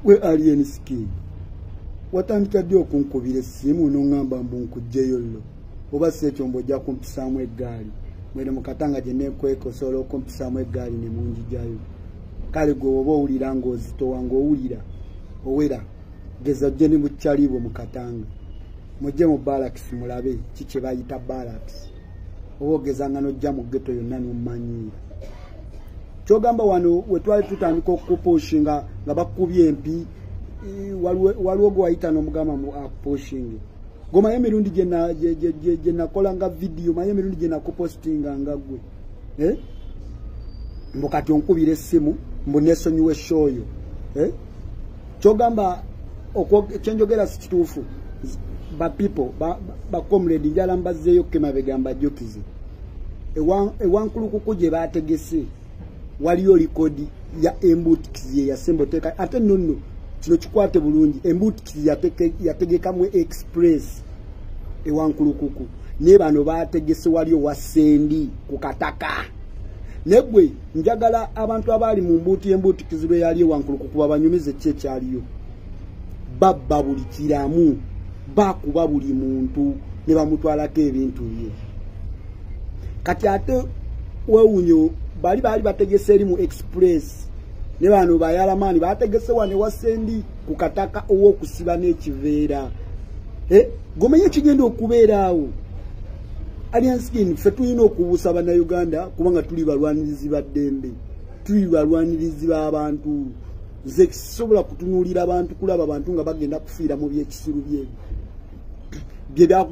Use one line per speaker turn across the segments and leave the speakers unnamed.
gwe alien skin watandika ddi okunkubira essimu noŋŋamba mbu nkugjeyo llo oba si ekyo mbu ojja kumpisaamu eggaali mwene mu katanga gye neekweka osobola okumpisaamu eggaali ne munjijayo kale gwe oba owulira ng'ozitowa ng'owulira owera geza ojje ne bukyaliibwe mu katanga mujje mu balakisi mulabe ki kye bayita balakisi owogezanga nojja mu geto yonna nomanyi kyogamba wano wetwali tutandika okupushinga nga bakubye empi waliwo gwewayita nomugamba mu apushingi gomaye emirundi gyenakolanga vidiyo maye emirundi gyenakupostinga nga gwe eh? mbu kati onkubira essimu mbu nesonyiwa eshoyo eh? kyogamba kyenjogera si kituufu ba people ba comrade njala mbazzeeyo kukemabega mbajjukize ewankulukuku gye baategese waliyo likodi ya embuutikizi ye yasemba oteeka ate nonno kino kikwate bulungi embuutikizi yategekamu express ewankulukuku naye bano baategese waliyo wasendi ku kataka negwe njagala abantu abaali mu mbuutu y'embuutikizibwa eyali ewankulu kukuba banyumize ki ekyaliyo babba buli kiramu bakuba buli muntu ne bamutwalako ebintu bye kati ate wewunyo bali baali bategese eri mu express ne bano bayalamaani bategese wane wasendi ku kataka ow'okusiba n'ekiveera eh, gomenya ekigenda okubeeraawo Alien Skin ffe tulina okubuusa bannayuganda kubanga tuli balwanirizi ba ddembe tuli balwanirizi b'abantu nze kisobola kutunuulira abantu kulaba bantu nga bagenda kufiira mu byekisiru bye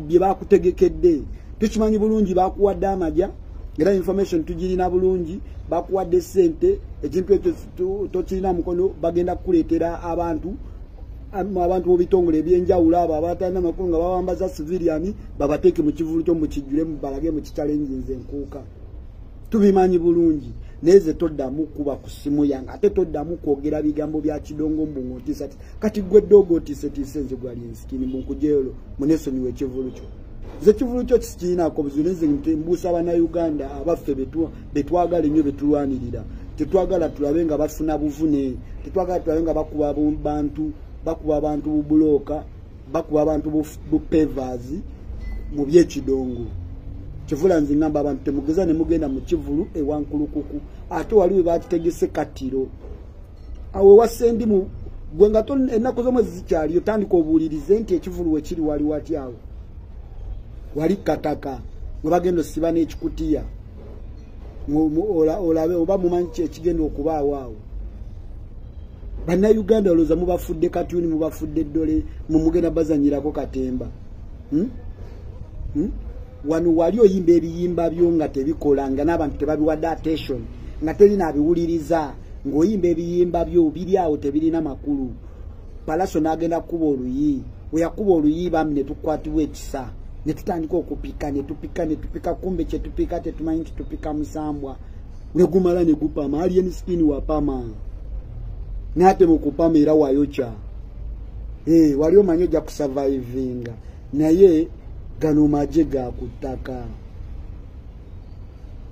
bye bakutegekedde tukimanyi bulungi bakuwadde amaja era information tugirina bulungi bakuwadde ssente ekintu ekyo tokirina mukono bagenda kukuleetera abantu abantu bobitongole ebyenjawulo abo abatalina makulu nga bawambaza civilian babateeke mu kivulu kyo mukijjulemu balage mu kitalenjinza enkuuka tubimanyi bulungi naye ze toddamu kuba ku ssimu yange ate toddamu kwogera bigambo bya kidongo mbu ng'otiisa ti kati gwe ddoogo otiisetiise nze gwali nsikini mbu nkujeolo munesonyiwa ekivulu kyo nze ekivulu kyo kikirinaako buzibu naye nze mbuusa banauganda abaffe betuwa betwagala ennyo betulwanirira tetwagala tulabe nga bafuna buvune tetwagala tulabe nga bakuba bantu bakuba abantu bubulooka bakuba abantu bupevers mu byekidongo kivula nze ngamba abantu temugeza ne mugenda mu kivulu ewankulukuku ate wali we bakitegese kattiro awo ewasendi mu gwe nga ennaku z'omwezi zikyaliyo tandika obuulirize nti ekivulu we kiri wali watyawo wali kataka we bagenda osiba n'ekikutiya olabe oba mumanyi kyekigenda okubaawo awo bannayuganda olowooza mubafudde katuni mubafudde ddole mumugenda bazanyirako katemba hmm? Hmm? wano wali oyimba ebiyimba byo nga tebikola nga n'abantu tebabiwadde attention nga terina abiwuliriza ng'oyimba ebiyimba byo biri awo tebirina makulu palaso n'agenda kukuba oluyi we yakuba oluyi bambi ne tukwatibwa ekisa ne tutandika okupika ne tupika ne tupika kumbe kye tupika tetumanyi nti tupika musambwa ne gumala ne gupama alien skin wapama n'ate mu kupama era wayokya ee eh, wali omanyi ojja kusavaivinga naye gano maje ga ku ttaka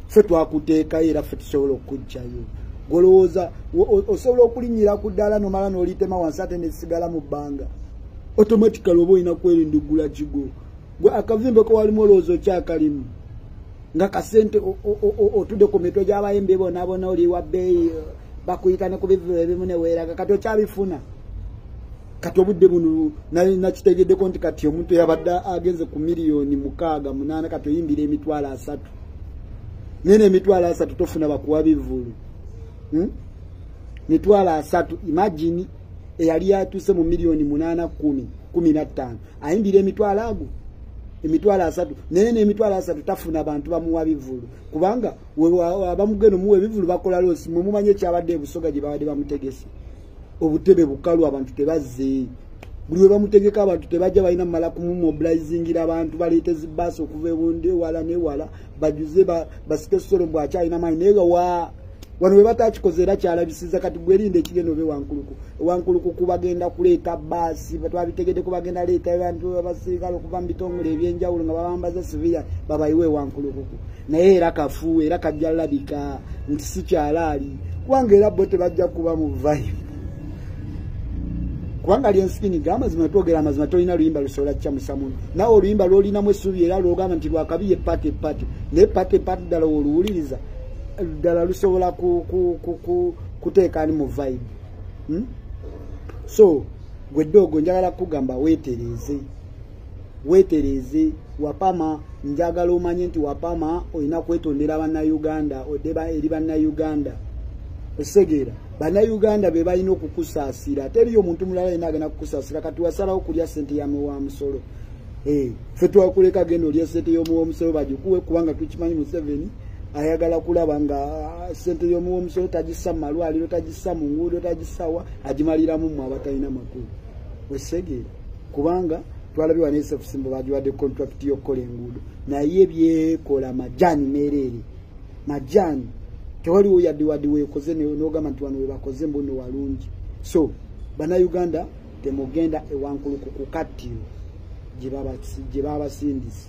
ffe twakuteekayo era ffe tusobola okukujjayo golowooza osobola okulinyira ku ddaala nomala nolitema wansi ate nesigala mu bbanga automatically oba olina kwerinda ogula kigo gwe akavimbeko walimu olowooza okyakalimu nga kasente otude ku mitwe gyabayimbi bonabona oliwa bbeeyi bakuyita ne ku bivulo ebimu neweeraga kati okyabifuna kati obudde buno nali nakitegeddeko nti kati omuntu yabadde agenze ku miliyoni mukaaga munaana kati oyimbira emitwalo asatu naye nemitwalo asatu tofuna bakuwa bivulu hmm? mitwalo asatu imagini eyali yatuuse mu miliyoni munaana kumi kumi nattaano ayimbira emitwalo ago emitwalo asatu naye nemitwalo asatu tafuna bantu bamuwa bivulu kubanga abamugenda omuwa ebivulu bakola loosi mwe mumanye ekyabadde ebusoga gye babadde bamutegese obutebe bukalu abantu tebazze buli we bamutegeka abantu tebajja balina mumala kumumobilizingira abantu baleete zibaasi okuva ebundi ewala newala bajuze basike solo mbu akyalina maanyi naye nga wa wano we batakikoze era kyalabisiza kati gwerinde ekigenda obe wankuluku wankuluku kubagenda kuleeta baasi twabitegede kubagenda leeta abantu abasirikale okuva mu bitongole ebyenjawulo nga babambaza siviya babayiwe wankulukuku naye era kafu era kajja labika nti sikyalaali kubanga era bo tebajja kuba mu vibe kubanga lyensikini ga amazima twogera amazima tolina luyimba lusobola kukyamusamu nawe oluyimba lwolinamu essuubi era lwogamba nti lwakabi ye pate pate naye pate pate ddala woluwuliriza ddala lusobola kuteekaani mu vibe hmm? so gwe ddoogo njagala kugamba weetereeze wetereeze wapama njagala omanye nti wapama olina kwetondera bannayuganda odeba eri bannayuganda osegeera bannayuganda be balina okukusaasira teriyo omuntu mulala yena agenda kukusaasira kati wasalawo kulya sente yamwe wa musolo eh, fe twakuleka genda olya sente yomuwa omusolo bagikuwe kubanga tukimanyi museveni ayagala kulaba nga ah, sente yomuwa omusolo tagissa mu malwaliro tagissa mu nguudo tagissawa agimaliramu mwe abatalina makulu osegeera kubanga twalabye wano esefusimbo bagiwadde kontrakiti y'okukola enguudo naye byekola majaani meereere majaani tewaliwo yadde wadde weekoze n'ogamba nti wano webakoze mbuno walungi so bannayuganda temugenda ewankulu ku kukattiro gye babasindise